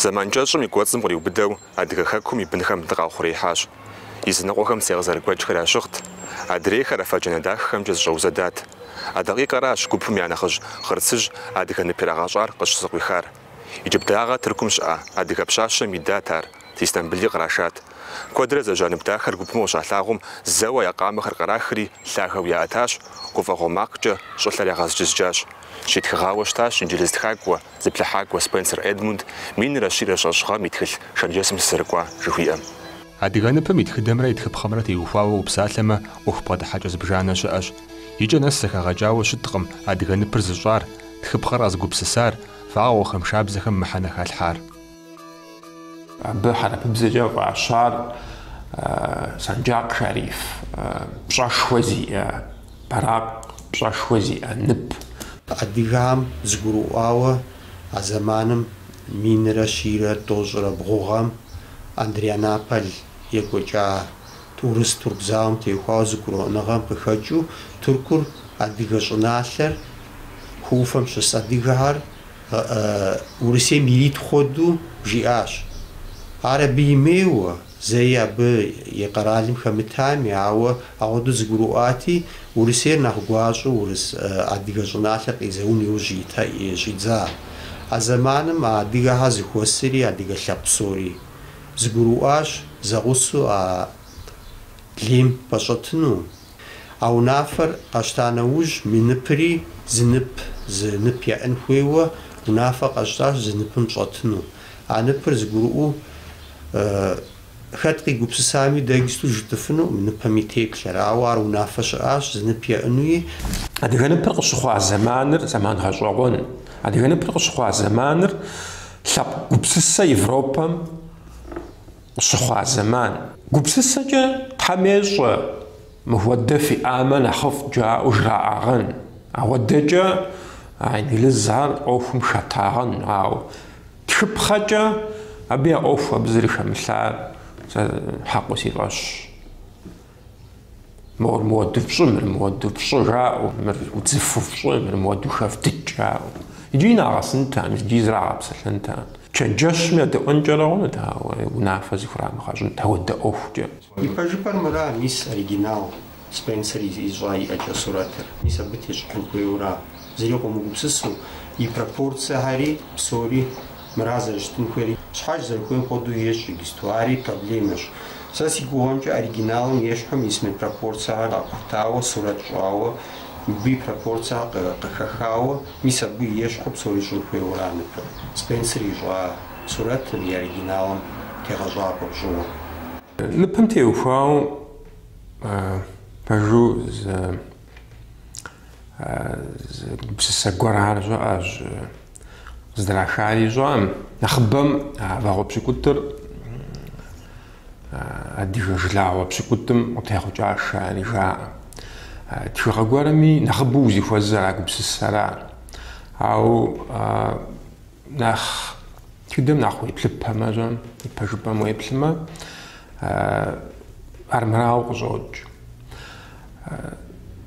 Зэман кӏэщӏым и кӏуэцӏым къриубыдэу Адыгэ Хэкум и бынхэм дыкъаухъуреихьащ. Языныкъуэхэм цей къызэрыгуэкӏхэр ящыгът, адрейхэр афэджанэ дахэхэмкӏэ зыщӏэузэдат. А дакъикъэращ гупым я нэхъыжь Хъырцыжь адыгэ нып ирагъэщӏар къыщызыкъуихар. Иджыблагъэ Тыркум щыӏа адыгэ пщащэм идат ар. Истамбыли кърашат. Куэдрэ зэжьа нып дахэр гупым къыщалъагъум, зэуэ я къамэхэр кърахри, лъагэу яӏэтащ, гуфӏэгъуэ макъкӏэ щӏылъэр ягъэзджызджащ. Щитхыгъауэ щытащ инджылыз тхакӏуэ, зыплъыхьакӏуэ Спенсер Эдмунд, минрэ щийрэ щэщӏ гъэм и тхылъ Шэрджэсым сызэрыкӏуа жыхуиӏэм. Адыгэ ныпым и тхыдэмрэ и тхыпхъэмрэ теухуауэ упсалъэмэ, ӏуэху бгъэдыхьэкӏэ зыбжанэ щыӏэщ. Икӏэ нэс зэхэгъэкӏауэ щыткъым адыгэ ныпыр зыщӏар, тхыпхъэр къэзыгупсысар, вагъуэхэм, шабзэхэм мыхьэнэ халъхьар. Абы хьэрыпыбзэкӏэ фӏащар Санджакъ Шариф, пщӏэшхуэ зиӏэ бэракъ, пщӏэшхуэ зиӏэ нып. Адыгэм зыгурыӏуауэ а зэманым минрэ щийрэ тӏощӏрэ бгъу гъэм Андрианаполь екӏуэкӏа урыс-турк зауэм теухуауэ зыгурыӏуэныгъэм къыхэкӏыу, Тыркур адыгэ щӏыналъэр, хы ӏуфэм щыс адыгэхэр, Урысейм ирит хуэдэу жиӏащ. Ар абы имейуэ, зэи абы и къэралым хэмытами, ауэ ахуэдэу зыгурыӏуати, Урысейр нэхъ гуащӏэу урыс, адыгэ щӏыналъэр къизэун иужь щӏидза. А зэманым а адыгэхэр зыхуэсри, адыгэ лъэпкъ псори зыгурыӏуащ зэгъусэу а лейм пэщӏэтыну, А унафэр къэщта нэужь, мы ныпри зы нып, зы нып яӏын хуейуэ унафэ къэщтащ зы ныпым щӏэтыну. А ныпыр зыгурыӏуэу хэт къигупсысами, дэ иджыпсту жытӏыфыну мы ныпым и теплъэр. Ауэ ар унафэ щыӏащ, зы нып яӏынуи. Адыгэ ныпыр къыщыхъуа зэманыр зэман гъэщӏэгъуэн. Адыгэ ныпыр къыщыхъуа зэманыр лъэпкъ гупсысэ Европэм къыщыхъуа зэман. Гупсысэкӏэ Тхьэм ещӏэ, мыхуэдэ фиӏамэ нэхъыфӏт жаӏэу жраӏагъэн, ахуэдэкӏэ а инглызхэр ӏуэхум хэтагъэн, ауэ тхыпхъэкӏэ абы я ӏуэху абы зэрыхэмылъар сэ хьэкъыу си фӏэщщ. Мыр мыхуэду фщӏы, мыр мыхуэду фщӏы жаӏэу, мыр удзыфэу фщӏы, мыр мыхуэду хэвдыкӏ жаӏэу. Иджы нагъэсынтэм, иджы зрагъэпсэлъэнтэм. Чэнджэщми едэӏуэнкӏэрэ хъунут, ауэ унафэ зыхурамыгъэщӏынт ахуэдэ ӏуэхукӏэ. Ипэжыпӏэр мыра, мис оригинал Спенсер ищӏа и ӏэкӏэ сурэтыр, мис абы тещӏыхьын хуейуэра зыри къомыгупсысу, и пропорцэхэри псори мыра зэрыщытын хуейр, щхьэж зэрыхуейм хуэдэу ещӏ иджыпсту, ари проблемэщ. Сэ си гугъэмкӏэ оригиналым ещхьым езым и пропорцэхэр къэхутауэ, сурэт щӏауэ, мыбы и пропорцэхэр къыхэхауэ, мис абы ещхьу псори щӏын хуейуэ ара ныпыр, Спенсер ищӏа сурэтым и оригиналым тегъэщӏапӏэ пщӏыуэ. Ныпым теухуауэ пэжу зы гупсысэ гуэрхэр щыӏэщ. Къыздрахари сщӏэкъым, нэхъыбэм а вагъуэ пщыкӏутӏыр адыгэ жылагъуэ пщыкӏутӏым къытехъукӏащ жари жаӏэ. Тхыгъэ гуэрми нэхъыбэу узыхуэзэр а гупсысэра. Ауэ Нэхъ тхыдэм нэхъ уеплъыпэмэ, жьэм ипэжыпӏэм уеплъымэ, армырауэ къыщӏокӏ.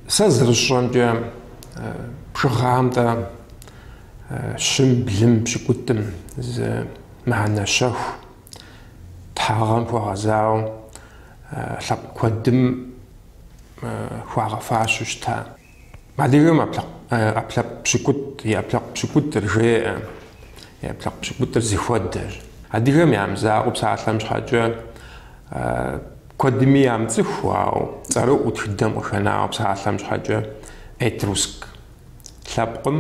Сэ зэрысщӏэмкӏэ бжыгъэм деж щым, блым, пщыкӏутӏым зы мыхьэнэ щэху тхьагъэм хуэгъэзауэ лъэпкъ куэдым хуагъэфащэу щыта. Адыгэм ӏэпкълъэпкъ пщыкӏутӏ, и ӏэпкълъэпкъ пщыкӏутӏыр жеӏэ, и ӏэпкълъэпкъ пщыкӏутӏыр зыхуэдэщ. Адыгэм ямызакъуэу псалъэм щхьэкӏэ куэдми ямыцӏыху, ауэ цӏэрыӏуэу тхыдэм къыхэнауэ псалъэм щхьэкӏэ этруск лъэпкъым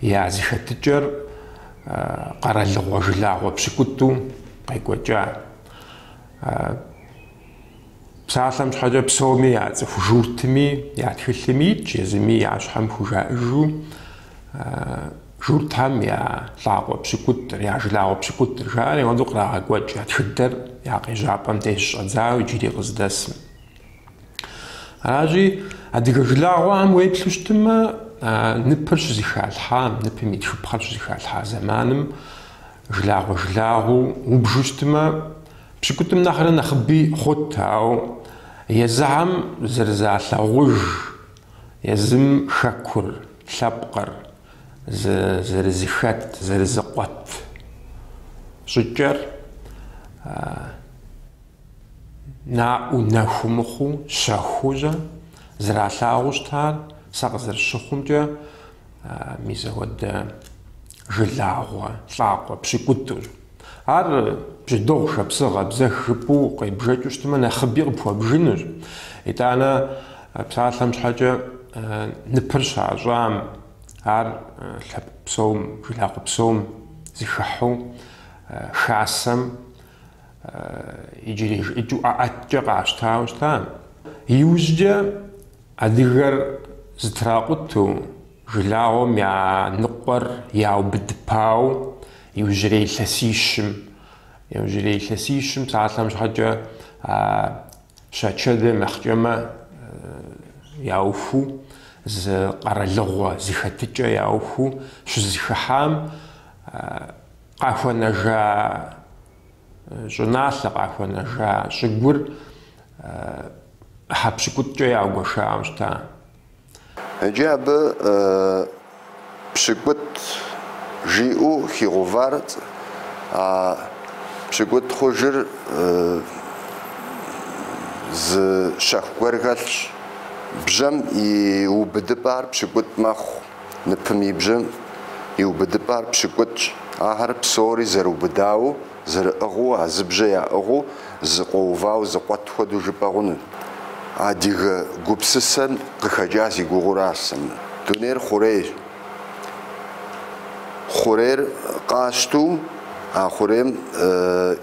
я зыхэтыкӏэр къэралыгъуэ жылагъуэ пщыкӏутӏу къекӏуэкӏа. Псалъэм щхьэкӏэ псоми яцӏыху журтми, я тхылъми итщ, езыми я щхьэм хужаӏыжу журтхэм я лӏакъуэ пщыкӏутӏыр, я жылагъуэ пщыкӏутӏыр жаӏэри апхуэдэу кърагъэкӏуэкӏ я тхыдэр я къежьапӏэм деж щӏэдзауэ иджыри къыздэсым. Аращи, адыгэ жылагъуэхэм уеплъу щытымэ, ныпыр щызыхалъхьам, ныпым и тхыпхъэр щызыхалъхьа зэманым Жылагъуэ жылагъуу убжу щытмэ, пщыкӏутӏым нэхърэ нэхъыби хъут, ауэ езыхэм зэрызалъагъуж, езым хэкур, лъэпкъыр, зэрызыхэт, зэрызыкъуэт щӏыкӏэр наӏуэу, нэхуу мыхъуу, щэхуу щӏэ, зэралъагъуу щытар, сэ къызэрыщыхъумкӏэ, мис апхуэдэ Жылагъуэ, лӏакъуэ, пщыкӏутӏущ. Ар бжьэдыгъу, шапсыгъ, абзэх жыпӏэу къебжэкӏыу щытмэ, нэхъыби къыпхуэбжынущ. Итӏанэ псалъэм щхьэкӏэ ныпыр щащӏам, ар лъэпкъ псом, жылагъуэ псом зыхыхьу, Хасэм иджырей жыӏэкӏэу ӏэӏэткӏэ къащтауэ щыта. Иужькӏэ адыгэр зытракъуту, Жылагъуэм я ныкъуэр яубыдыпау иужьрей илъэсищым, иужьрей илъэсищым псалъэм щхьэкӏэ а щачэдэм ехъкӏэмэ яухыу, зы къэралыгъуэ, зы хэтыкӏэ яухыу щызыхыхьам къахуэнэжа щӏыналъэ, къахуэнэжа щӏыгур ӏыхьэ пщыкӏутӏкӏэ яугуэшауэ щыта. Иджы абы пщыкӏутӏ жиӏэу хигъуващ, а пщыкӏутӏ хъужыр зы щэху гуэр хэлъщ. Бжьэм и убыдыпӏар пщыкӏутӏ мэхъу, ныпым и бжьэм и убыдыпӏар пщыкӏутӏщ. Ахэр псори зэрыубыдауэ. Зэрыӏыгъыу, а зыбжьэ яӏыгъыу, зыкъуэувау зыкъуэт хуэдэу жыпӏэ хъуну. Адыгэ гупсысэм къыхэкӏа си гугъуращ сэ. Дунейр хъурейщ. Хъурейр къащту, а хъурейм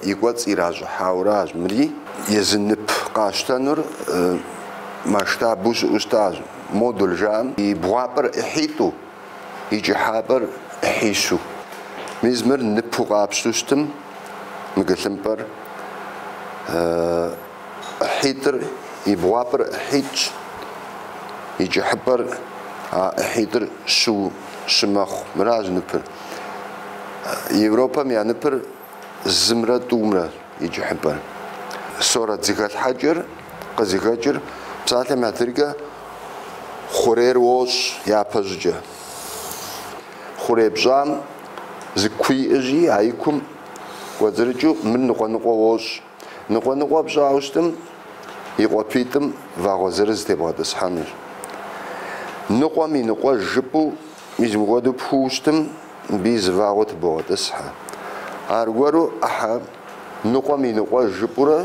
и кӏуэцӏ иращӏыхьауращ. Мыри езы нып къащтэнур масштабу щыӏэу щытащ. Модуль жаӏэм и бгъуапӏэр ӏыхьитӏу, и кӏыхьапӏэр ӏыхьищу. Мис мыр ныпу къапщту щытым, мыгылъымпӏэр ӏыхьитӏыр и бгъуапӏэр ӏыхьитӏщ, и кӏыхьыпӏэр а ӏыхьитӏыр щы щымэхъу. Мыращ ныпыр. Европэм я ныпыр зымрэ тӏумрэ и кӏыхьыпӏэр. Сурэт зыхэлъхьэкӏэр къызыхэкӏыр псалъэм папщӏэ хъурейр уощӏ япэщӏыкӏэ. Хъурей пщӏам зы куи иӏыжи, а и кум кӏуэцӏрыкӏыу мыр ныкъуэ-ныкъуэ уощӏ. Ныкъуэ-ныкъуэ пщӏауэ щытым и къуапитӏым вагъуэ зырыз тебгъэтӏысхьэнущ. Ныкъуэм и ныкъуэж жыпӏэу мис мыпхуэду пхуу щытым, мыбыи зы вагъуэ тыбогъэтӏысхьэ. Аргуэру ӏыхьэ ныкъуэм и ныкъуэж жыпӏэурэ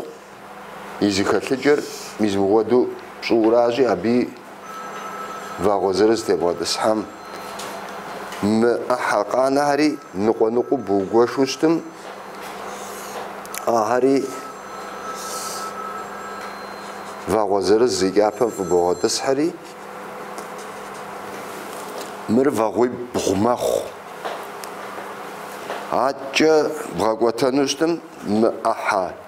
и зыхэлъыкӏэр мис мыпхуэду пщӏыуращи, абыи Вагъуэ зырыз тебгъэтӏысхьэм, мы ӏыхьэ къанэхэри, ныкъуэ-ныкъуу бугуэшу щытым, ахэри вагъуэ зырыз и кӏапэм фӏыбогъэтӏысхьэри, мыр вагъуибгъу мэхъу. Аткӏэ бгъэкӏуэтэну щытым, мы ӏыхьэ.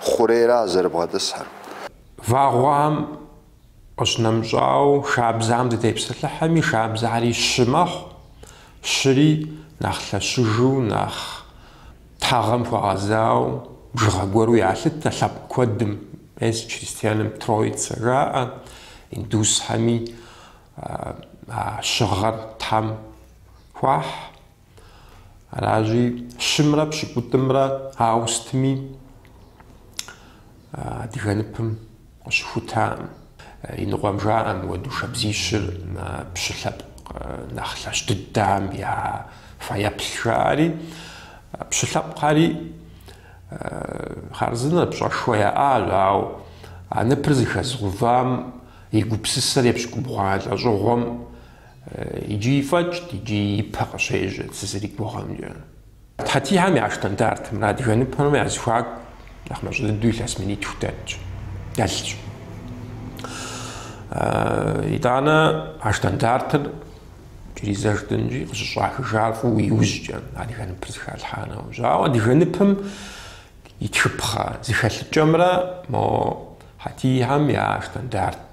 хъурейра зэрыбгъэтӏысхэр. Вагъуэм къыщынэмыщӏауэ, шабзам дытепсэлъыхьэми, шабзари щы мэхъу, щыри нэхъ лъэщыжу, нэхъ тхьэгъэм хуэгъэзауэ, бжыгъэ гуэру ялъытэ лъэпкъ куэдым, мес чристианым Троица жаӏэ, индусхэми а щыгъэр Тхьэм хуахь. Аращи, щымрэ пщыкӏутӏымрэ ауэ сытми адыгэ ныпым къыщыхутакъым. И ныкъуэм жаӏэ мыуэду шабзищыр пщы лъэпкъ нэхъ лъэщ дыдэм я фэеплъ жаӏэри. Пщы лъэпкъхэри хъарзынэ, пщӏэшхуэ яӏащ, ауэ а ныпыр зыхэзгъэувам и гупсысэр епщыкӏубгъуанэ лӏэщӏыгъуэм Иджыри фӏэкӏ, иджыри ипэ къыщежьэ сызэригугъэмкӏэ. Хьэтихэм я штандартымрэ адыгэ ныпымрэ я зыхуаку нэхъ мащӏэ дыдэу илъэс минитху дэтщ, дэлъщ. Итӏанэ а штандартыр иджыри зэ жытӏэнщи къыщыщӏахыжар фӏыуэ иужькӏэ Адыгэ ныпыр зыхалъхьа нэужь. Ауэ Адыгэ ныпым и тхыпхъэ зыхэлъыкӏэмрэ мо Хьэтихэм я штандарт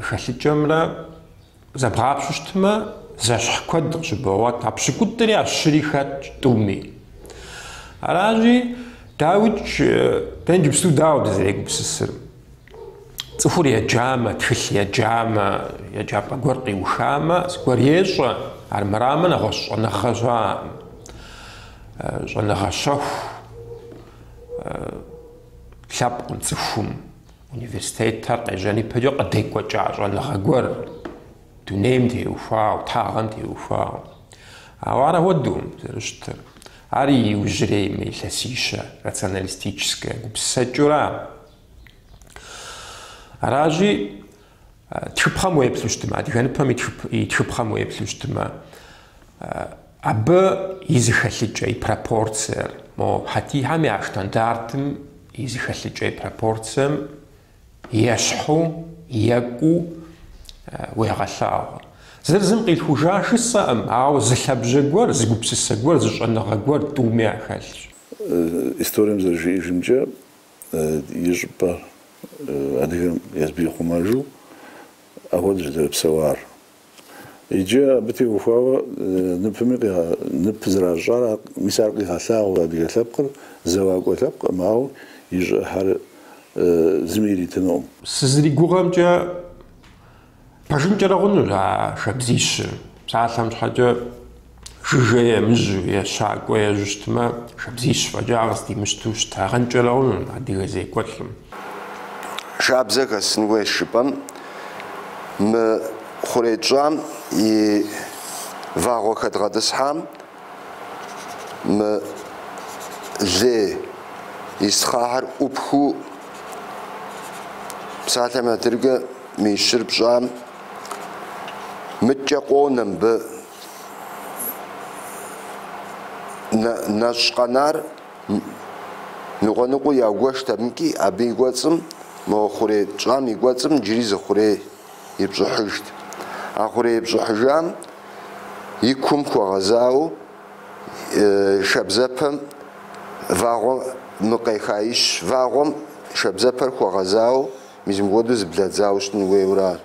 Хэлъыкӏэмрэ зэбгъапщу щытмэ, зэщхь куэд къыщыбогъуэт, а пщыкӏутӏри а щыри хэтщ тӏуми. Аращи, дауикӏ, дэ иджыпсту дауэ дызэрегупсысыр? Цӏыхур еджамэ, тхылъ еджамэ, еджапӏэ гуэр къиухамэ, зыгуэр ещӏэ, армырамэ нэгъуэщӏ щӏэныгъэ щыӏэкъым, щӏэныгъэ щэху лъэпкъым цӏыхум. Университетыр къежьэн ипэкӏэ къыдекӏуэкӏа щӏэныгъэ гуэр, дунейм теухуауэ, тхьэгъэм теухуауэ. Ауэ ар апхуэдэу зэрыщытыр, ар иужьрей мы илъэсищэ, рационалистическэ гупсысэкӏэура. Аращи, Тхыпхъэм уеплъу щытымэ, адыгэ ныпым и тхыпхъэм уеплъу щытымэ, абы и зыхэлъыкӏэ, и пропорциер, мо хьэтихэм я штандартым и зыхэлъыкӏэ, и пропорцием ещхьу, екӏуу уегъэлъагъуэ. Зыр зым къилъхужа жысӏэкъым, ауэ зы лъабжьэ гуэр, зы гупсысэ гуэр, зы щӏэныгъэ гуэр тӏуми яхэлъщ. Историем зэрыжиӏэжымкӏэ, и щӏыпӏэ адыгэм езым ихъумэжу апхуэдэу зыдэрыпсэуар. Иджы абы теухуауэ ныпми ныпыр зэращӏар, мис ар къигъэлъагъуэ адыгэ лъэпкъыр зэуакӏуэ лъэпкъкъым, ауэ и щӏыхэр зыми иритынукъым. Сызригугъэмкӏэ, Пэжынкӏэрэ хъунущ а шабзищыр. Псалъэм щхьэкӏэ жыжьэ емыжьу е щакӏуэ ежьу щытмэ, шабзищ фӏэкӏа къыздимыщту щытагъэнкӏэрэ хъунущ адыгэ зекӏуэлӏым. Шабзэ хэсын хуейщ жыпӏэм, мы хъурей тщӏам и вагъуэ хэдгъэтӏысхьам. Мы лей исхъахьыр ӏупхыу псалъэм адрыкӏэ мы ищыр пщӏам, мыдкӏэ къонэ мыбы нэщӏ къэнар, ныкъуэныкъуэу яугуэшт абымкӏи, абы и кӏуэцӏым, мо хъурей пщӏам и кӏуэцӏым иджыри зы хъурей. епщӏыхьыжт. А хъурей епщӏыхьыжам и кум хуэгъэзауэ шабзэпэм вагъуэ мы къехаищ. Вагъуэм шабзэпэр хуэгъэзауэ мис мыгуэду зэблэдзауэ щытын хуейуэ ара.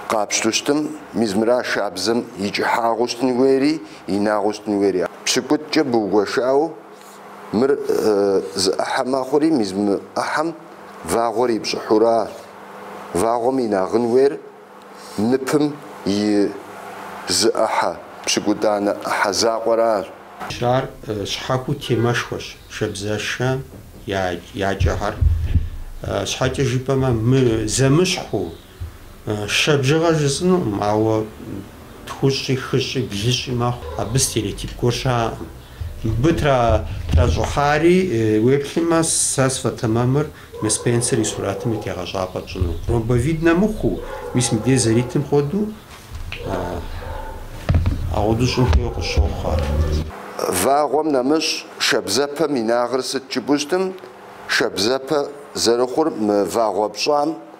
Къапщту щытым, мис мыра шабзэм и кӏыхьагъыу щытын хуейри, инагъыу щытын хуейри? Пщыкӏутӏкӏэ быугуэшауэ, Мыр зы ӏыхьэ мэхъури, мис мы ӏыхьэм вагъуэр ипщӏыхьура. Вагъуэм инагъын уейр ныпым и зы ӏыхьэ, пщыкӏутӏанэ ӏыхьэ закъуэращ. Ар щхьэхуэу темэшхуэщ шабзэшэ я кӏэхэр. Щхьэкӏэ жыпӏэмэ, мы зэмыщхьу Шэ бжыгъэ жысӏынукъым, ауэ тхущӏи, хыщӏи, блыщӏи мэхъу. Абы стереотип гуэр щаӏэкъым. Мыбы тращӏыхьари, уеплъмэ, сэ сфӏэтэмэмыр мы Спенсер и сурэтым и тегъэщӏапӏэ тщӏыну. Ромбовиднэ мыхъуу, мис мыбдеж зэритым хуэдэу, ахуэду щӏын хуейуэ къысщохъу ар. Вагъуэм нэмыщӏ шабзэпэм инагъыр сыт жыпӏу щытым, шабзэпэ зэрыхъур мы вагъуэ пщӏам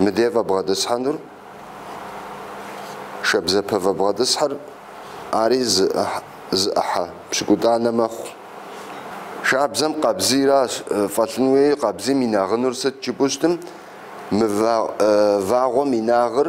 мыде фӏэбгъэтӏысхьэнур, шабзэпэ фӏэбгъэтӏысхьыр ари зы зы ӏыхьэ пщыкӏутӏанэ мэхъу. Шабзэм къабзийра фӏэлъын хуейр, къабзийм инагъынур сыт жыпӏу щытым, мы вагъуэм инагъыр.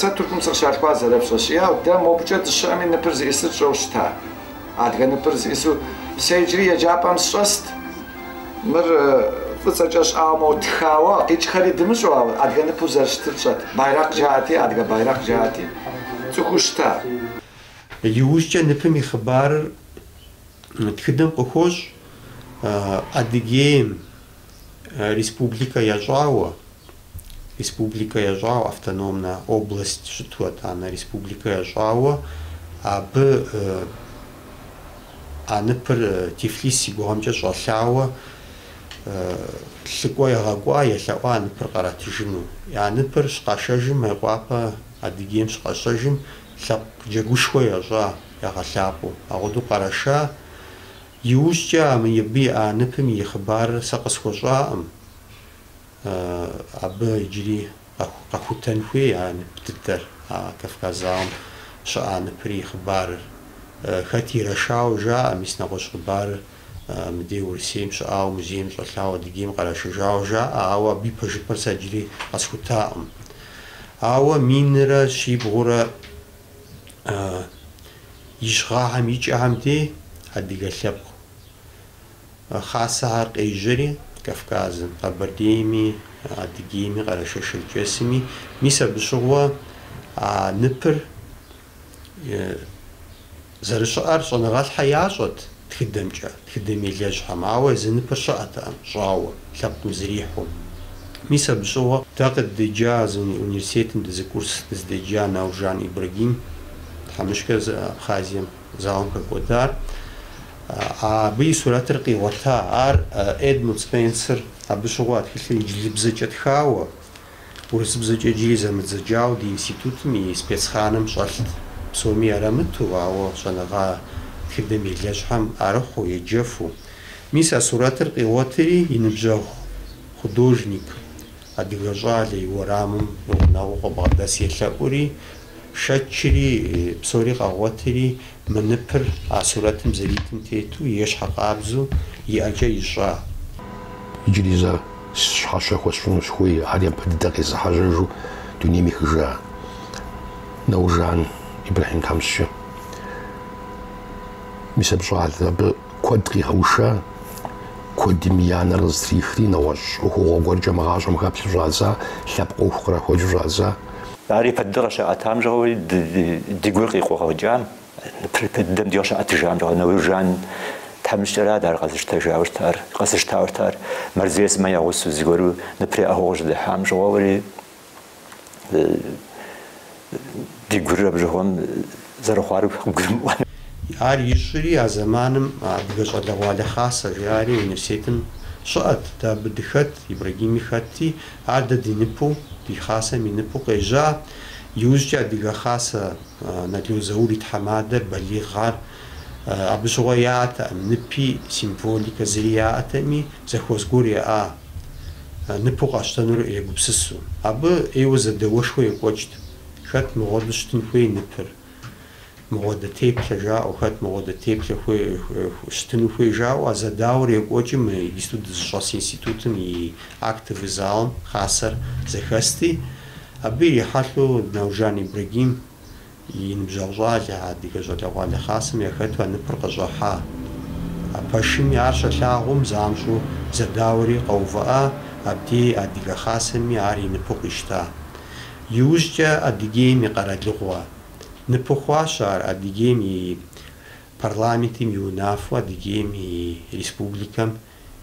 Сэ Тыркум сыкъыщалъхуа, зэрыпщӏэщи, дэ мобыкӏэ дыщыӏэми ныпыр зиӏысыр тщӏэу щыта. Адыгэ ныпыр зиӏысу сэ иджыри еджапӏэм сыщӏэст. Мыр фӏыцӏэкӏэ щӏауэ, моуэ тхауэ, къикӏхэри дымыщӏэу, ауэ адыгэ ныпу зэрыщытыр тщӏэт. Байракъ жаӏэти, адыгэ байракъ жаӏэти, тцӏыхуу щыта. Иужькӏэ ныпым и хъыбарыр тхыдэм къыхощ Адыгейм. Республикэ ящӏауэ, республикэ ящӏауэ, автономнэ область щыту, атӏанэ республикэ ящӏауэ, абы а ныпыр Тифлис си гугъэмкӏэ щӏэлъауэ лӏыкӏуэ ягъэкӏуа, елъэӏуа а ныпыр къратыжыну. А ныпыр щыкъашэжым, Мейкъуапэ Адыгейм щыкъэщэжым, лъэпкъ джэгушхуэ ящӏа, ягъэлъапӏэу, апхуэдэу къэрэша. Иужькӏэ а мыбы и а ныпым и хъыбарыр сэ къысхуэщӏакъым, абы иджыри къэхутэн хуей а нып дыдэр, а Кавказ зауэм щыӏа ныпыр и хъыбарыр. Хэт ирэшауэ жаӏэ, мис нэгъуэщӏ хъыбарыр мыдей Урысейм щыӏауэ музейм щӏэлъауэ Адыгейм кърашыжауэ жаӏэ, ауэ абы и пэжыпӏэр сэ иджыри къэсхутакъым. Ауэ минрэ щибгъурэ. ищ гъэхьэм и кӏэхэм дей адыгэ лъэпкъ хасэхэр къежьэри Кавказым, Къэбэрдейми, Адыгейми, Къэрэшей-Шэрджэсми, мис абы щыгъуэ а ныпыр зэрыщыӏэр щӏэныгъэлӏхьэм ящӏэт. Тхыдэмкӏэ, тхыдэм елэжьхьэм, ауэ езы ныпыр щыӏэтэкъым, щӏауэ, лъэпкъым зэрихьэу. Мис абы щыгъуэ дэ къыддеджа зы университетым дызы курс дызыдеджа Науржан Ибрагим, тхьэмыщкӏэр, Абхъазием зауэм хэкӏуэдар, абы и сурэтыр къигъуэта. Ар Эдмунд Спенсер, абы щыгъуэ а тхылъыр инджылызыбзэкӏэ тхауэ. Урысыбзэкӏэ иджыри зэмыдзэкӏауэ ди институтым и спецхраным щӏэлът. Псоми ярамыту, ауэ щӏэныгъэ тхыдэм елэжьхьэм яӏэрыхьэу, еджэфу. Мис а сурэтыр къигъуэтри и ныбжьэгъу художник, адыгэ щӏалэ, и уэрамым и гъунэгъуу къыбгъэдэс елъэӏури, щэкӏри, псори къагъуэтри, Мы ныпыр а сурэтым зэритым тету ещхь къабзэу и ӏэкӏэ ищӏа. Иджыри зэ щхьэщэ хуэсщӏыну сыхуей, ар япэ дыдэ къезыхьэжьэжу дунейм ехыжа Науржан Ибрэхьим тхьэмыщкӏэ. Мис абы щӏалэ, абы куэд къигъэуша, куэдым я нэр къызытрихри, нэгъуэщӏ ӏуэхугъуэ гуэркӏэ мы гъащӏэм хэплъэу щӏадза, лъэпкъ ӏуэху кърахуэкӏыу щӏадза. Ар япэ дыдэ къыщаӏэтам щыгъуи, ди гур къикъугъэкӏам, япэ дыдэм дигъу щаӏэтыжам щыгъуи, Науржан тхьэмыщкӏэрат ар къэзыщтэжауэ щытар, къэзыщтауэ щытар. Мэрзей сымэ я гъусэу зыгуэру ныпыр яӏыгъыу къыщыдыхьам щыгъуэуэри, ди гур абы щыгъуэм, зэрыхъуар къыбгурымыӏуэну. Ар ищӏри, а зэманым адыгэ щӏалэгъуалэ хасэ жаӏэри университетым щыӏэт, дэ абы дыхэт, Ибрагими хэтти, ар дэ ди ныпу, ди хасэм и ныпу къежьа. Иужькӏэ адыгэ хасэ Нало Заур и тхьэмадэр балигъ ар. Абы щыгъуэ яӏэтэкъым ныпи, символикэ зэи яӏэтэми, зэхуэс гуэр яӏа ныпу къащтэнур егупсысу. Абы ӏейуэ зэдэуэшхуэ екӏуэкӏт. Хэт мыгъуэдэу щытын хуей ныпыр? Мыгъуэдэ теплъэ жаӏэу, хэт мыгъуэдэ теплъэу щытыну хуей жаӏэу а зэдауэр екӏуэкӏым мы иджыпсту дызыщӏэс институтым и актовый залым хасэр зэхэсти, абы ирихьэлӏэу Науржан Ибрагим и ныбжьэгъу щӏалэ, а адыгэ щӏалэгъуалэ хасэм яхэту а ныпыр къыщӏихьа. А пэшыми ар щалъагъум, занщӏэу зэдауэри къэувыӏа, абдей адыгэ хасэми ар и ныпу къищта. Иужькӏэ Адыгейм и къэралыгъуэ ныпу хъуащ ар Адыгейм и Парламентым и унафэу Адыгейм и Республикэм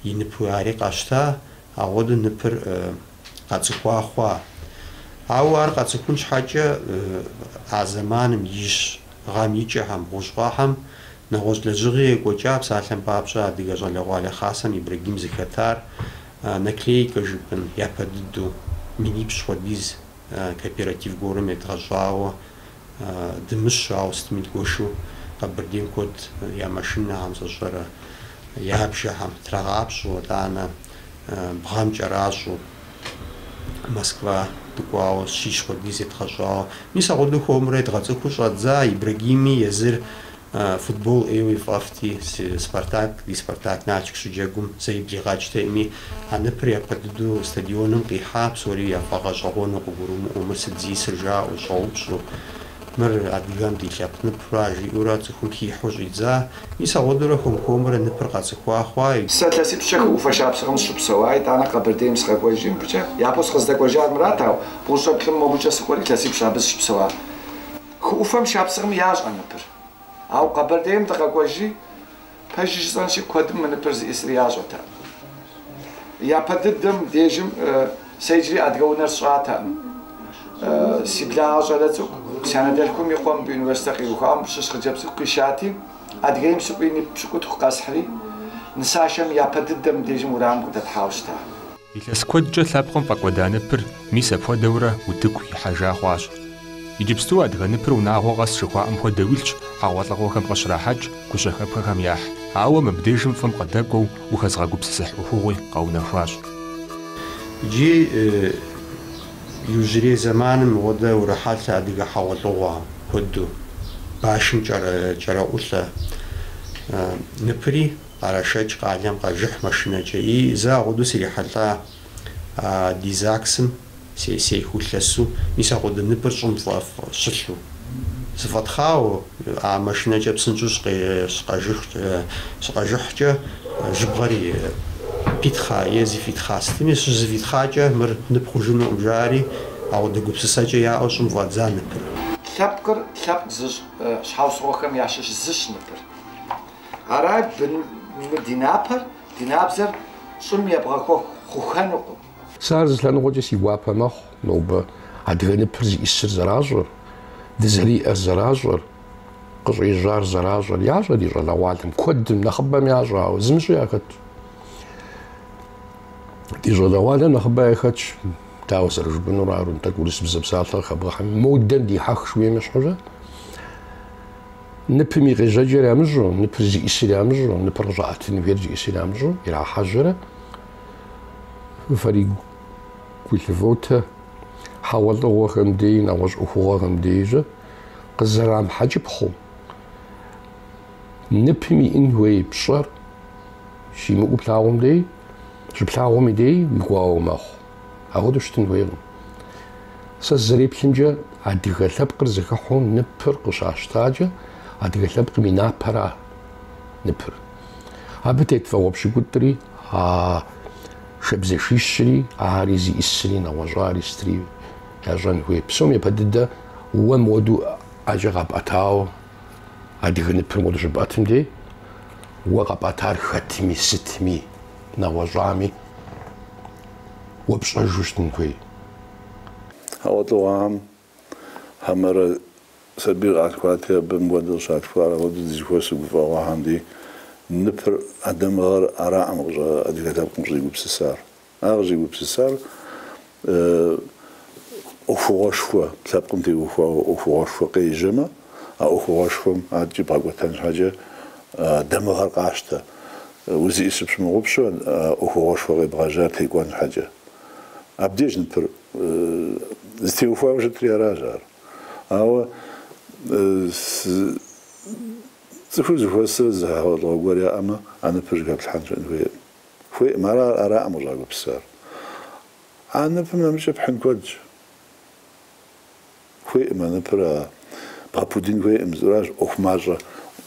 и ныпу ари къащта, ауэдэу ныпыр къэцӏыхуа хъуа. Ауэ ар къэцӏыхун щхьэкӏэ а зэманым ищӏ гъэм и кӏэхэм, бгъущӏ гъэхэм нэгъуэщӏ лэжьыгъи екӏуэкӏа, псалъэм папщӏэ, Адыгэ щӏалэгъуалэ хасэм Ибрагим зыхэтар Наклейкэ жыпӏэн япэ дыдэу минипщӏ хуэдиз кооператив гуэрым едгъэщӏауэ дымыщэу, ауэ сытми дгуэшу Къэбэрдейм куэд я машинэхэм сщӏэрэ я бжэхэм трагъапщӏэу, итӏанэ бгъэм кӏэращӏэу Москва дыкӏуауэ щищ хуэдиз едгъэщӏауэ. Мис агъуэдэу хуэмурэ едгъэцӏыхуу щӏэддза Ибрагими езыр Футбол ӏейуэ фӏэфӏти, си Спартак, ди Спартак Налшык щыджэгум зэи блигъэкӏтэкъыми, а ныпыр япэ дыдэу стадионым къихьа, псори яфӏэгъэщӏэгъуэну къыгурымыӏуэу, мыр сыт зисыр жаӏэу, щӏэупщӏу, мыр адыгэм ди лъэпкъ ныпыра, жиӏэурэ цӏыхум хихьу щӏидза. Мис агъуэдэурэ хуэм-хуэмурэ ныпыр къэцӏыхуа хъуай. Сэ илъэсипщӏкӏэ хы ӏуфэ шапсыгъым сыщыпсэуа, итӏанэ Къэбэрдейм сыкъэкӏуэжри мыбыкӏэ. Япэу сыкъыздэкӏуэжар мырат, ауэ бгъущӏрэ плӏым мобыкӏэ сыкӏуэри, илъэсипщӏ абы сыщыпсэуа. Хы ӏуфэм шапсыгъым ящӏэ ныпыр. Ауэ Къэбэрдейм дыкъэкӏуэжри, пэжи жысӏэнщи, куэдым мы ныпыр зыӏисыр ящӏэтэкъым. Япэ дыдэм дежым сэ иджыри адыгэ унэр сщӏатэкъым. Си благъэ щӏалэ цӏыкӏу, си анэдэлъхум и къуэ мыбы университет къиухам щыщ хъыджэбз цӏыкӏу къищати, Адыгейм сыкӏуэри, нып пщыкӏутху къэсхьри, нысашэм япэ дыдэм дежым уэрамым къыдэтхьауэ щыта. Илъэс куэдкӏэ лъэпкъым фӏэкӏуэда ныпыр мис апхуэдэурэ утыку ихьэжа хъуащ. Иджыпсту адыгэ ныпыр унагъуэ къэс жыхуаӏэм хуэдэу илъщ хьэгъуэлӏыгъуэхэм къыщрахьэкӏ гущэхэпхэхэм яхь, ауэ мыбдежым фӏым къыдэкӏуэу ухэзгъэгупсысыхь ӏуэхугъуи къэунэхуащ. Иджы иужьрей зэманым мыгъуэдэу урохьэлӏэ адыгэ хьэгъуэлӏыгъуэ куэду, башым кӏэраӏулӏэ ныпыри. Кърашэкӏ къалэм къажыхь машинэкӏэ и зэ агъуду срихьэлӏа а ди ЗАГС-м сей сехыу лъэсу, мис агъуду ныпыр щӏым фӏэфӏ щылъу. Зыфӏэтхъау а машинэкӏэ псынщӏэу щыкъажыхькӏэ жьыбгъэри питхъа е зыфӏитхъа сытми, щызыфӏитхъакӏэ мыр нып хъужынукъым жаӏэри, агъуду гупсысэкӏэ яӏэу щӏым фӏадза ныпыр. Лъэпкъыр лъэпкъ зыщӏ щхьэусыгъуэхэм ящыщ зыщ ныпыр. Арай, мы ди напэр, ди набдзэр щӏым ебгъэхуэх хъухэнукъым. Сэ ар зы лъэныкъуэкӏэ си гуапэ мэхъу, нобэ адыгэ ныпыр зиӏисыр зэращӏэр, дызэриӏэр зэращӏэр, къыщӏежьар зэращӏэр ящӏэ ди щӏалэгъуалэм, куэдым, нэхъыбэм ящӏэ, ауэ зымыщӏи яхэтщ. Ди щӏалэгъуалэм нэхъыбэ яхэтщ, дауэ зэрыжыпӏэнур ару, тӏэкӏу урысыбзэ псалъэ къыхэбгъэхьэми, модэм дихьэх жыхуиӏэм щхьэкӏэ. Ныпым и къежьэкӏэр ямыщӏу, ныпыр зиӏисыр ямыщӏу, ныпыр къыщӏаӏэтын хуейр зиӏисыр ямыщӏу ирахьэжьэрэ фэри гулъывотэ хьэгъуэлӏыгъуэхэм дей, нэгъуэщӏ ӏуэхугъуэхэм дейкӏэ къызэрамыхьэкӏыпхъэу, ныпым иӏэн хуей пщӏэр щимыӏэу плъагъум дей, щыплъагъум и дей уи гуауэ мэхъу. Ауэдэу щытын хуейкъым. Сэ сызэреплъымкӏэ, адыгэ лъэпкъыр зыхыхьу ныпыр къыщащтакӏэ, адыгэ лъэпкъым и напэра ныпыр. Абы тет вагъуэ пщыкӏутӏри, а шабзэшищри, ари зиӏисри, нэгъуэщӏари сытри ящӏэн хуей. Псом япэ дыдэ уэ мыуэду ӏэкӏэ къапӏэтауэ, адыгэ ныпыр мыуэду щыпӏэтым дей, уэ къапӏэтар хэтми, сытми. нэгъуэщӏами уэ пщӏэжу щытын хуей. Хьэгъуэлӏыгъуэхэм хьэмэрэ сабийр къалъхуати, абы мыуэдэу къыщалъхуар апхуэдэу дызыхуэс гуфӏэгъуэхэм ди ныпыр а дамыгъэр араӏым къыщӏ адыгэ лъэпкъым къыщӏигупсысар. Ар къыщӏигупсысар ӏуэхугъуэшхуэ лъэпкъым теухуауэ ӏуэхугъуэшхуэ къежьэмэ, а ӏуэхугъуэшхуэм адэкӏи бгъэкӏуэтэн щхьэкӏэ дамыгъэр къащтэ. Узиӏисыр пщымыгъупщу, а ӏуэхугъуэшхуэ къебгъэжьар текӏуэн щхьэкӏэ. Абдеж ныпыр зытеухуауэ щытыр аращ ар. Ауэ цӏыхур зыхуэсрэ зы хьэгъуэлӏыгъуэ гуэр яӏэмэ, а ныпыр щӏыхэплъхьэн щыӏэн хуейкъым. Хуеӏым, ар аракъым къыщӏагупсысар. А ныпым нэмыкӏэ пхьын куэдщ. Хуеӏым а ныпыр а бгъэпудын хуеӏым, зыращ ӏуэху мащӏэ,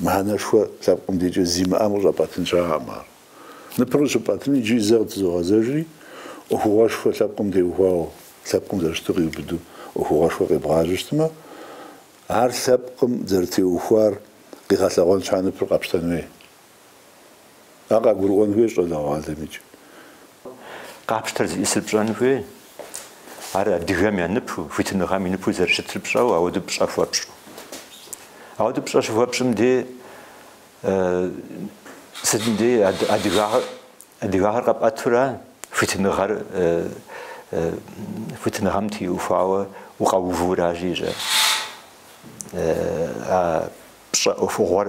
мыхьэнэшхуэ лъэпкъым декӏэ зимыӏэм къыщӏэпӏэтын щыӏэкъым ар. Ныпыр къыщыпӏэтын иджыри зэ къытызогъэзэжри, ӏуэхугъуэшхуэ лъэпкъым теухуауэ, лъэпкъым зэрыщыту къиубыду ӏуэхугъуэшхуэ къебгъажьэ щытмэ, ар лъэпкъым зэрытеухуар къигъэлъэгъуэн щхьа ныпыр къэпщтэн хуей. Ар къагурыӏуэн хуей щӏалэгъуалэм иджы. Къапщтэр зиӏысыр пщӏэн хуей. Ар адыгэм я ныпу, хуитыныгъэм и ныпу зэрыщытыр пщӏэу, ауэду пщӏэ хуэпщӏу. Ауэду пщӏэ щыхуэпщӏым дей сытым дей адыгагъэр, адыгагъэр къэпӏэтура хуитыныгъэр, хуитыныгъэм теухуауэ укъэувыуращи щэ, а пщӏэ ӏуэхугъуэр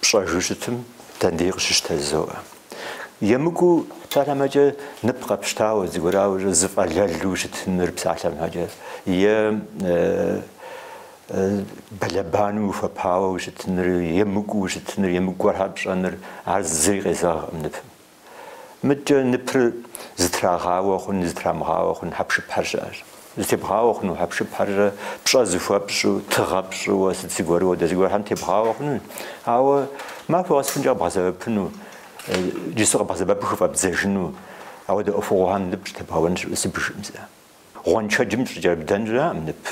Пщӏэжу щытым дэндей къыщыщтэ жызоӏэ. Емыкӏуу псалъэм хэкӏэ нып къэпщтауэ, зыгуэрауэ щэ зы фӏэлэлу ущытыныр псалъэм хэкӏэ, е бэлэбанэу ухуэпауэ ущытыныр, емыкӏуу ущытыныр, емыкӏу гуэрхьэр пщӏэныр, ар зыри къезэгъкъым ныпым. Мыдкӏэ ныпыр зытрагъауэ хъун, зытрамыгъауэ хъун хьэпшыпхьэр щыӏэщ. Зытебгъауэ хъуну хьэпшыпхьэр щэ пщӏэ зыхуэпщӏу, тыгъэ пщӏыуэ, сыт зыгуэру ауэдэ зыгуэрхьэм тебгъауэ хъуну, ауэ махуэ къэсыхункӏэ къэбгъэсэбэпыну, джысу къэбгъэсэбэпу хыфӏэбдзэжыну ауэдэ ӏуэхугъуэхэм нып щӏытебгъэуэн щыӏэу сыбжыӏым сэ. Гъуэншэджым щӏыкӏэрыбдэн щыӏэкъым нып.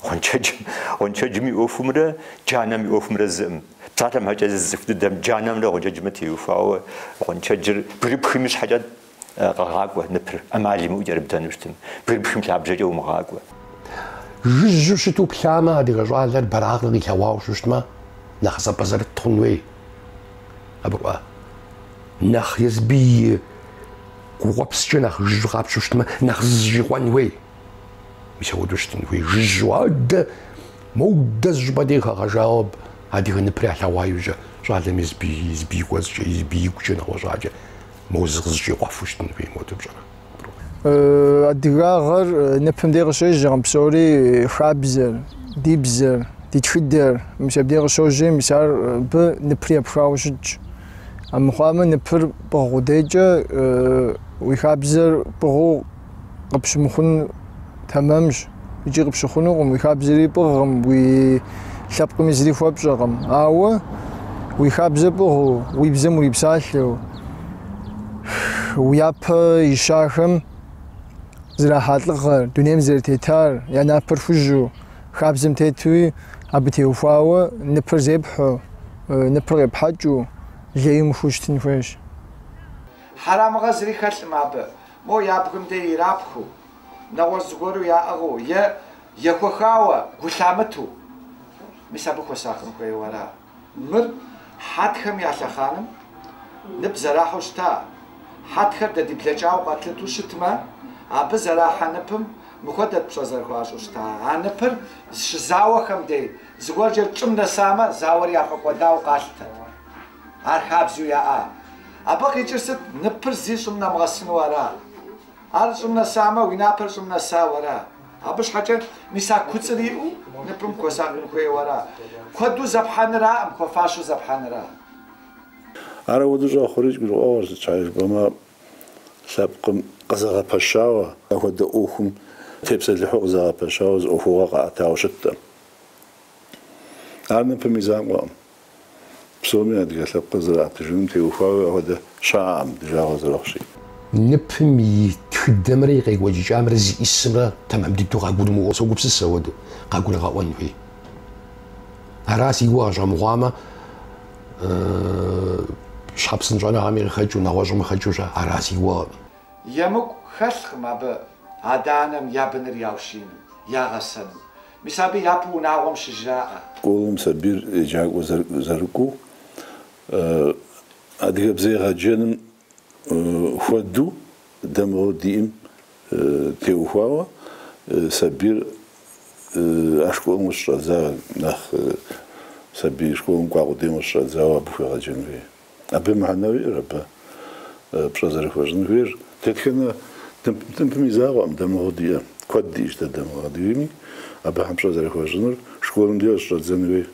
Гъуэншэджым, гъуэншэджым и ӏуэхумрэ джанэм и ӏуэхумрэ зыӏым. Псалъэм хэкӏэ зы цӏыху дыдэм джанэмрэ гъуэншэджымрэ теухуауэ гъуэншэджыр бгырыпхым ищхьэкӏэ къэгъакӏуэ ныпыр, ӏэмал имыӏэу кӏэрыбдэну щытым, бгырыпхым и лъабжьэкӏэ умыгъакӏуэ. Жыжьэу щыту плъамэ, адыгэ щӏалэр бэракъыр къилъэгъуауэ щыщытмэ, нэхъ зэпӏэзэрыт хъун хуей. Абы кӏуэ нэхъ езыбы и. Гукъуэпскӏэ нэхъ жыжьу къапщу щытмэ, нэхъ зызэщӏикъуэн хуей. Мис апхуэдэу щытын хуей, жыжьу, адэ, моудэ зы щӏыпӏэ дей къыхэгъэщауэ абы, адыгэ ныпыр ялъэгъуа иужькӏэ, щӏалэм езыбы, езыбы и кӏуэцӏкӏэ, езыбы игукӏэ нэгъуэщӏакӏэ, моу зыкъызэщӏикъуэфу щытын хуей, модэ пщӏэрэ? Адыгагъэр ныпым дей къыщежьэкъым псори, хабзэр, ди бзэр, ди тхыдэр, мис абдей къыщожьи, мис ар абы ныпри епхауэ щытщ. Амыхъуамэ, ныпыр пӏыгъ къудейкӏэ уи хабзэр пӏыгъыу къыпщымыхъун тэмэмщ икӏи къыпщыхъунукъым. Уи хабзэри пӏыгъкъым, уи лъэпкъми зыри хуэпщӏэкъым. Ауэ уи хабзэр пӏыгъыу, уи бзэм урипсалъэу, уи япэ ищахэм зэрахьа лӏыгъэр, дунейм зэрытетар, я напэр хужьу, Хабзэм тетуи абы теухуауэ ныпыр зепхьэу, ныпыр къепхьэкӏыу лей мыхъуу щытын хуейщ. Хьэрэмыгъэ зыри хэлъым абы, мо я бгым де ирапхыу, нэгъуэщӏ зыгуэру яӏыгъыу е ехуэхауэ гу лъамыту. Мис абы хуэсакъын хуейуэ ара? Мыр хьэтхэм я лъэхъаным нып зэрахьэу щыта. Хьэтхэр дэ ди блэкӏауэ къэтлъыту щытмэ, абы зэрахьэ ныпым мыхуэдэт пщӏэ зэрыхуащӏу щыта. А ныпыр щызауэхэм дей зыгуэркӏэ щӏым нэсамэ, зауэр яфӏэкӏуэдауэ къалъытэт. Ар хабзэу яӏа. Абы къикӏыр сыт? Ныпыр зэи щӏым нэмыгъэсыну ара? Ар щӏым нэсамэ, уи напэр щӏым нэсауэ ара? Абы щхьэкӏэ мис а куцӏыр иӏэу ныпым хуэсакъын хуейуэ ара? Куэду зепхьэнраӏым, хуэфащэу зепхьэнра? Ар ауэду щӏэхъури, гурыӏуэгъуэр сыт щхьэкӏэ жыпӏэмэ, лъэпкъым къызэгъэпэщауэ. Апхуэдэ ӏуэхум тепсэлыхьу къызэгъэпэщауэ зы ӏуэхугъуэ къаӏэтауэ щыттэм, ар ныпым и закъуэкъым. Псоми адыгэ лъэпкъыр зэрыӏэтыжыным теухуауэ апхуэдэ щыӏэкъым, ди жагъуэ зэрыхъущи. Ныпым и тхыдэмрэ и къекӏуэкӏыкӏамрэ зиӏысымрэ тэмэм дыдэу къагурымыӏуэу согупсыс ауэду, къагурыгъэӏуэн хуей. Ара си гугъэ щӏэмыхъуамэ, щхьэ псынщӏэныгъэми къыхэкӏыу, нэгъуэщӏым къыхэкӏыущэ, ара си гугъэкъым. Емыкӏу хэлъкъым абы адэ-анэм я быныр яущину, ягъэсэну. Мис абы япэу унагъуэм щыжраӏэ. Школэм сабийр еджакӏуэ зэрыкӏуу, адыгэбзэ егъэджэным хуэдэу дамыгъэу диӏэм теухуауэ сабийр а школым къыщыщӏэдза нэхъ сабий школым кӏуа къудейм къыщыщӏэдзауэ абы хуегъэджэн хуей. Абы мыхьэнэуэ иӏэр, абы пщӏэ зэрыхуэщӏын хуейр. Дэтхэнэ ныпым и закъуэкъым, дамыгъэу диӏэ. Куэд диӏэщ дэ дамыгъэу адыгэми абыхэм пщӏэ зэрыхуэщӏынур. Школым де щыщӏэддзэн хуей.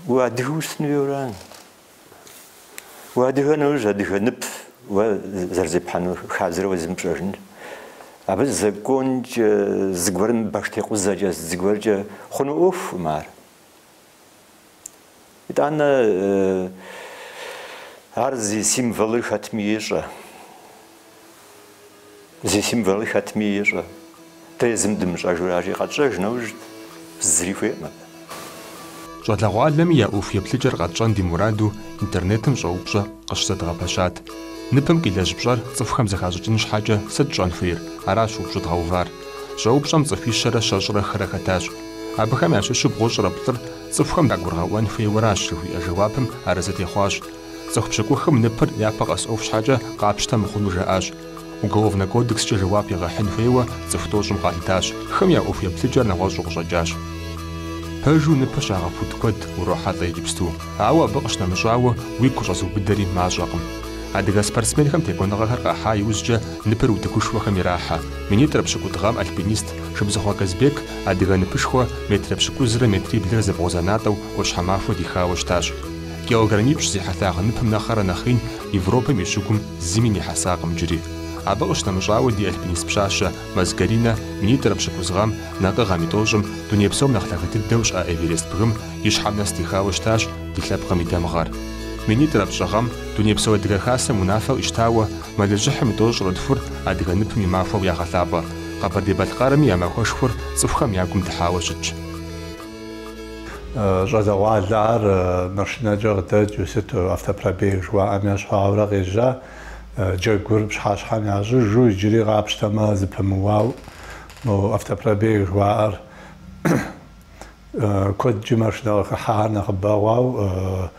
Уэ адыгэ ущытын хуейуэ ара? Уэ адыгэ нэужь адыгэ нып уэ зэрызепхьэну хабзэр уэ зымыпщӏэжыныр. Абы законкӏэ, зыгуэрым баштекъузэкӏэ, зыгуэркӏэ хъуну ӏуэхукъым ар. Итӏанэ ар зи символыр хэтми ещӏэ. Зи символыр хэтми ещӏэ. Дэ езым дымыщӏэжу аращи, къэтщӏэж нэужь зыри хуейкъым абы. Щӏалэгъуалэми я ӏуэху еплъыкӏэр къэтщӏэн ди мураду интернетым щӏэупщӏэ къыщызэдгъэпэщат. Ныпым къилэжь пщӏэр цӏыхухэм зэхащӏыкӏын щхьэкӏэ сыт щӏэн хуейр, аращ упщӏэ дгъэувар. Щӏэупщӏэм цӏыхуищэрэ щэщӏрэ хырэ хэтащ. Абыхэм ящыщу бгъущӏрэ плӏыр цӏыхухэм дагургъэӏуэн хуейуэращ, жыхуиӏэ жэуапым арэзы техъуащ. Цӏыху пщыкӏухым ныпыр япэ къэс ӏуэху щхьэкӏэ къапщтэ мыхъуну жаӏащ. Уголовнэ кодекскӏэ жэуап егъэхьын хуейуэ цӏыху тӏощӏым къалъытащ. Хым я ӏуэху еплъыкӏэр нэгъуэщӏу къыщӏэкӏащ. Пэжу ныпыр щагъэпуд куэд урохьэлӏэ иджыпсту, ауэ абы къыщынэмыщӏауэ уигу къыщӏэзыубыдэри мащӏэкъым. Адыгэ спортсменхэм текӏуэныгъэхэр къахьа иужькӏэ ныпыр утыкушхуэхэм ирахьэ. Минитӏрэ пщыкӏутӏ гъэм альпинист Шыбзыхъуэ Казбек Адыгэ ныпышхуэ метрэ пщыкӏузрэ метриблрэ зэбгъузэнатӏэу ӏуащхьэмахуэ дихауэ щытащ. Килограммипщӏ зи хьэлъагъ ныпым нэхърэ нэхъ ин Европэм и щыгум зыми нихьэсакъым иджыри. Абы къыщынэмыщӏауэ ди альпинист пщащэ Мэз Каринэ минитӏрэ пщыкӏуз гъэм, накӏыгъэм и тӏощӏым, дуней псом нэхъ лъагэ дыдэу щыӏэ Эверест бгым и щхьэм нэс дихауэ щытащ ди лъэпкъым и дамыгъэр. Минитӏрэ пщӏы гъэм Дунейпсо Адыгэ Хасэм унафэ къищтауэ Мэлыжьыхьым и тӏощӏрэ тхур адыгэ ныпым и махуэу ягъэлъапӏэ. Къэбэрдей-Балъкъэрми я махуэшхуэр цӏыхухэм я гум дыхьауэ щытщ. Щӏалэгъуалэхэр машинэкӏэ къыдэкӏыу, сыт автопробег жыхуаӏэм ящхьу аурэ къежьа, джэгур пщыхьэщхьэм ящӏыжу иджыри къапщтэмэ зэпымыуауэ. Мо автопробег жыхуаӏэр куэдкӏи машинэ къыхыхьэхэр нэхъыбэ хъуауэ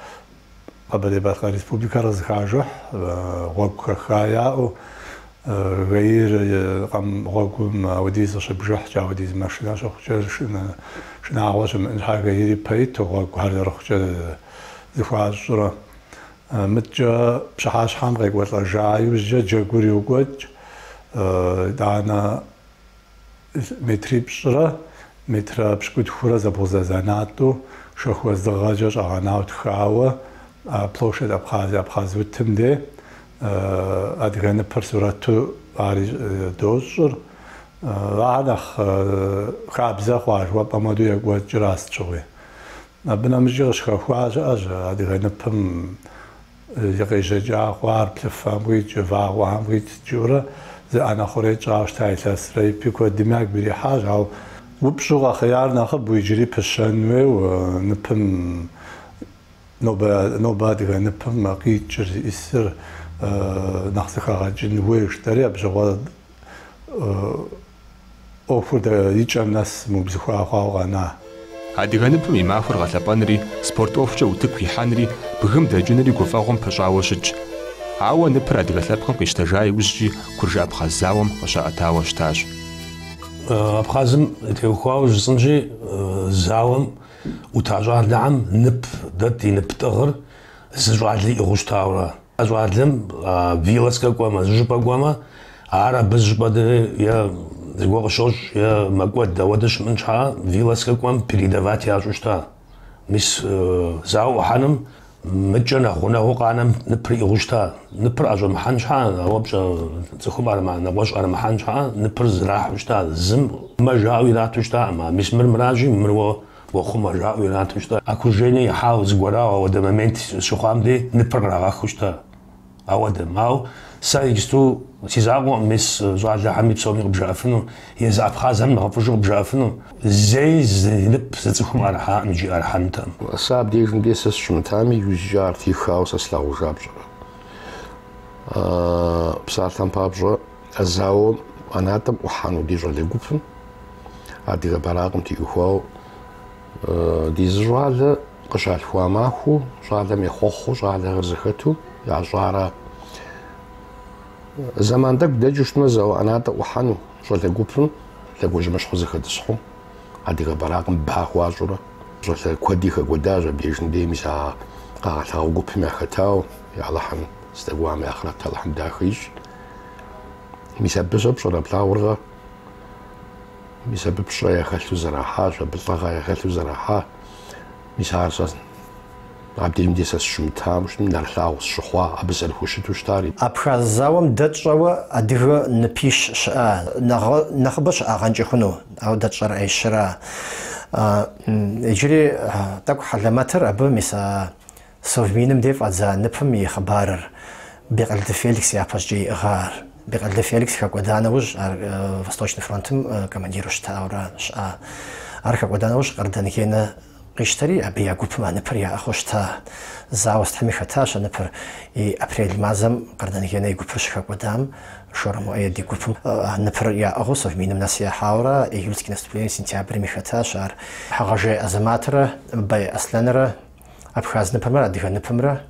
Къэбэрдей-Балъкъэр Республикэр къызэхажыхь гъуэгу хэха яӏэу, ГАИ-р къэм гъуэгум ауэдиз къыщыбжыхькӏэ, ауэдиз машинэ щыхъукӏэ, шынагъуэ щымыӏэн щхьэкӏэ ГАИ-р ипэ иту гъуэгухэр зэрыхъукӏэ зэхуащӏрэ. Мыдкӏэ пщыхьэщхьэм къекӏуэлӏэжа иужькӏэ джэгур йокӏуэкӏ, итӏанэ метрипщӏрэ метрэ пщыкӏутхурэ зэбгъузэзанатӏэу шэху уэздыгъэкӏэ щӏэгъэнауэ тхауэ Площадь Абхазии, Абхъаз утым де адыгэ ныпыр сурэту ари дощӏыр. Ахэр нэхъ хабзэ хъуа жыхуэпӏэм хуэдэу екӏуэкӏрэ а сыт щыгъуи. Абы нэмыщӏи къыщыхэхуа щыӏэщ адыгэ ныпым И къежьэкӏа хъуар плъыфэм къикӏ, вагъуэхэм къикӏ жытӏэурэ зы ӏэнэ хъурей тщӏауэ щыта илъэсрэ ипэ, куэдми ягу ирихьащ, ауэ упщӏэу къэхъеяр нэхъыбэу иджыри пыщэн хуейуэ ныпым, нобэ адыгэ ныпым къикӏыр зищӏысыр нэхъ зэхэгъэкӏын хуей жытӏэри абы щыгъуэ. ӏуэхур дэ и кӏэм нэс мыубзыхуа хъуауэ къэна. Адыгэ ныпым и махуэр гъэлъэпӏэнри, спорт ӏуэхукӏэ утыку ихьэнри, бгым дэкӏынри гуфӏэгъуэм пыщӏауэ щытщ. Ауэ ныпыр адыгэ лъэпкъым къищтэжа иужькӏи Куржы-Абхъаз зауэм къыщаӏэтауэ щытащ. Абхъазым теухуауэ жысӏэнщи, зауэм ӏута щӏалэхэм нып дэ ди нып тӏыгъыр зы щӏалэ иӏыгъыу щытауэ ара? А щӏалэм вылазкэ кӏуэмэ, зыщӏыпӏэ кӏуэмэ, ар абы зыщӏыпӏэ е зыгуэ къыщощӏ, е мэкӏуэд. Ауэдэ щымыӏэн щхьа вылазкэ кӏуэм передавать ящӏу щыта. Мис зауэ ӏухьэным мыкӏэ нэхъ гъунэгъуу къанэм ныпыр иӏыгъыу щыта. Ныпыр ӏэщӏэмыхьэн щхьа, ауэ пщӏэ цӏыхум нэгъуэщӏ ӏэрымыхьэн щхьа, ныпыр зрахьу щыта, зым мэ жаӏэу ирату щытакъым. Мис мыр мыращи, мыр уэ Уэ хъумэ, жаӏэу ирату щыта. Окружение ихьауэ зыгуэрауэ ауэдэ момент щыхъуам дей ныпыр кърагъэхыу щыта. Ауэдэм. Ау сэ иджысту си закъуэкъым мис щӏалэхэми псоми къыбжаӏэфыну, езы абхъазхэм нэхъыфӏыжу къыбжаӏэфыну. Зэи зы нып зы цӏыхум ӏэрыхьакъым икӏи ӏэрыхьэнутэкъым. Сэ абдежым дей сэ сыщымытами, иужькӏэ ар техауэ сэ слъагъужа пщӏэрэ? Псалъэм папщӏэ, А зауэм ӏэнатӏэм ӏухьэну ди щӏалэ гупым адыгэ бэракъым теухуауэ ди зы щӏалэ къыщалъхуа махуэу щӏалэм ехъуэхъуу щӏалэхэр зэхэту ящӏара. Зэман тӏэкӏу дэкӏыу щытмэ зауэ ӏэнатӏэ ӏухьэну щӏалэ гупым лъэгуажьэмыщхьэу зэхэтӏысхьэу адыгэ бэракъым ба хуащӏурэ. Щӏалэ куэди хэкӏуэдащ абдежым дей мис а къагъэлъагъуэ гупым яхэтауэ. Алыхьым здэкӏуам и ахърэт Алыхьым дахэ ищӏ. Мис абы щӏэ пщӏэрэ плъагъуркъэ? Мис абы пщӏэ яхэлъу зэрахьащ, абы лӏыгъэ яхэлъу зэрахьа. Мис ар сэ абдежым де сэ сщымытам щытым, нэрылъагъу сщыхъуа, абы зэрыхущыту щытари. Абхаз зауэм дэ тщӏэуэ адыгэ ныпищ щыӏа? Нэхъыбэ щыӏагъэнкӏэ хъуну? Ауэ дэ тщӏэр аищыра? Иджыри тӏэкӏу хьэлэмэтыр абы мис а Совминым де фӏадза ныпым и хъыбарыр Бекъэлды Феликс япэщӏыкӏэ иӏыгъа ар? Бекъэлды Феликс хэкӏуэда нэужь, ар Восточный фронтым командиру щытауэра щыӏа. Ар хэкӏуэда нэужь Къардан Генэ къищтэри, абы я гупым а ныпыр яӏыгъыу щыта. Зауэ стхьэми хэтащ а ныпыр. И апрель мазэм Къардан Генэ и гупыр щыхэкӏуэдам, Шорэ Муэед и гупым а ныпыр яӏыгъыу Совминым нэс ехьауэра, Июльский наступление сентябрми хэтащ ар. Хьэгъэжей Азэматрэ Бай Аслъэнрэ Абхаз ныпымрэ адыгэ ныпымрэ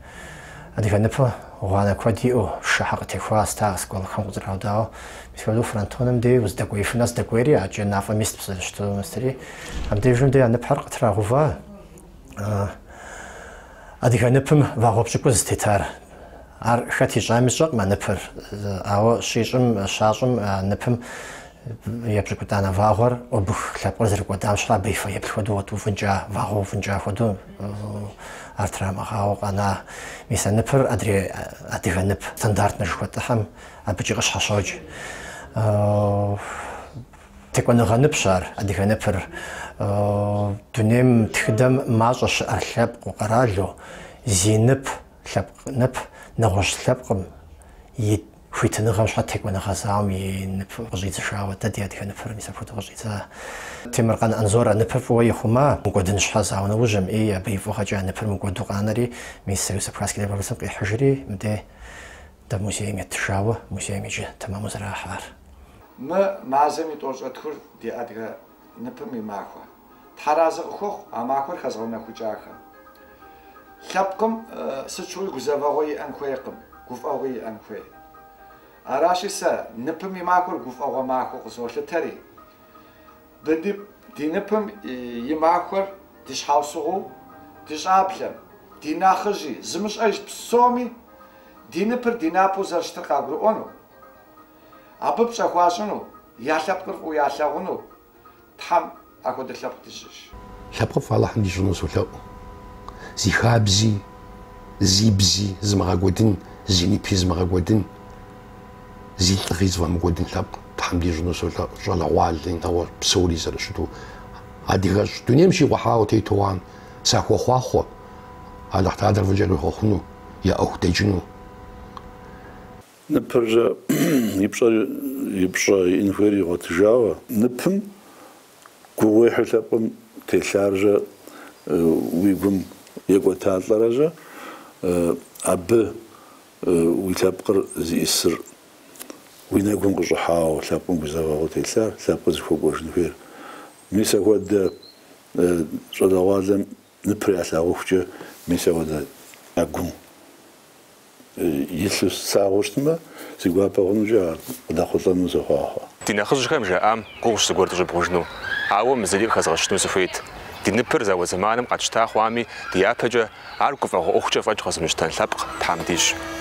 адыгэ ныпым гъуанэ куэд иӏэу, шэхьэ къытехуа ста осколкэхэм къызэраудауэ, мис хуэдэу фронтоным дей уздэкӏуеифым нэс дэкӏуейри, акӏэ мафӏэм ист псэущту нэстри, абдежым дей а ныпхьэр къытрагъэува адыгэ ныпым вагъуэ пщӏыкӏуз тетар. Ар хэт ищӏами сщӏэкъым а ныпыр, ауэ щищӏым, щащӏым а ныпым епщӏыкӏутӏанэ вагъуэр убых лъэпкъыр зэрыкӏуэдам щхьа абы и фэеплъ хуэдэу къытеувэнкӏэ, вагъуэ увынкӏэ хуэдэу ар трамыгъэувауэ къэна. Мис а ныпыр адрей адыгэ нып стандартнэ жыхуэтӏыхьэм абыкӏи къыщхьэщокӏ. Текӏуэныгъэ ныпщ ар, адыгэ ныпыр. Дунейм, тхыдэм мащӏэ щыӏэр лъэпкъу къэралу зи нып Лъэпкъ нып нэгъуэщӏ лъэпкъым и хуитыныгъэм щхьэ текӏуэныгъэ зауэм и ныпыр къыщӏидзыжауэ. Дэ ди адыгэ ныпыр мис апхуэдэу къыщӏидза. Темыркъан Анзор а ныпыр фӏыуэ ихъума, мыкӏуэдын щхьэ зауэ нэужьым, ӏей, абы и фӏыгъэкӏэ а ныпыр мыкӏуэду къанэри, мис Союз абхазских добровольцэм къихьыжри, мыдей дэ музейм еттыжауэ, музейм иджы тэмэму зэрахь ар. Мы мазэм и тӏощӏэ тхур ди адыгэ ныпым и махуэ. Тхьэразы къыхухъу а махуэр хэзыгъэунэхукӏахэм. Лъэпкъым сыт щыгъуи гузэвэгъуэ иӏэн хуейкъым, гуфӏэгъуи иӏэн хуей. Аращи сэ ныпым и махуэр гуфӏэгъуэ махуэу къызолъытэри. Ди ныпым и махуэр ди щхьэусыгъуу, ди щӏэблэм, ди нэхъыжьи, зымыщӏэж псоми ди ныпыр ди напэу зэрыщытыр къагурыӏуэну, абы пщӏэ хуащӏыну, я лъэпкъыр фӏыуэ ялъагъуну, Тхьэм апхуэдэ лъэпкъ дищӏыж. Лъэпкъыфӏ Алыхьым дищӏыну солъэӏу. Зи хабзи, зи бзи зымыгъэкӏуэдын, зи нипи зымыгъэкӏуэдын, зи лӏыгъи зыфӏэмыкӏуэдын лъэпкъ Тхьэм дищӏыну солъэӏу, щӏалэгъуалэ, нэгъуэ псори зэрыщыту. Адыгэщӏ дунейм щикъухьауэ тету хъуам сахуохъуахъуэ Алыхьталэр фӏыкӏэ къахуэхъуну, я ӏуэху дэкӏыну. Ныпыржэ и пщӏэр и пщӏэ иӏэн хуейр игъуэтыжауэ. Ныпым гугъуехьу лъэпкъым телъаржэ уи гум екӏуэталӏэрэжэ абы уи лъэпкъыр зиӏисыр уи нэгум къыщӏыхьауэ лъэпкъым гузэвэгъуэу телъар, лъэпкъыр зыхуэкӏуэжын хуейр. Мис ахуэдэ щӏалэгъуалэм Ныпыр ялъагъухукӏэ мис ахуэдэ я гум илъу слъагъуу щытмэ, си гуапэ хъунукӏэ ар къыдэхъулӏэну сохъуахъуэ. Ди нэхъыжьхэм жаӏам гугъущ зыгуэр дыщӏыбгъужыну, ауэ мы зыри къыхэзгъэщыну сыхуейт. Ди ныпыр зауэ зэманым къэтщта хъуами, ди япэкӏэ ар гуфӏэгъуэ ӏуэхукӏэ фӏэкӏ къэзымыщтэн лъэпкъ Тхьэм дищӏ.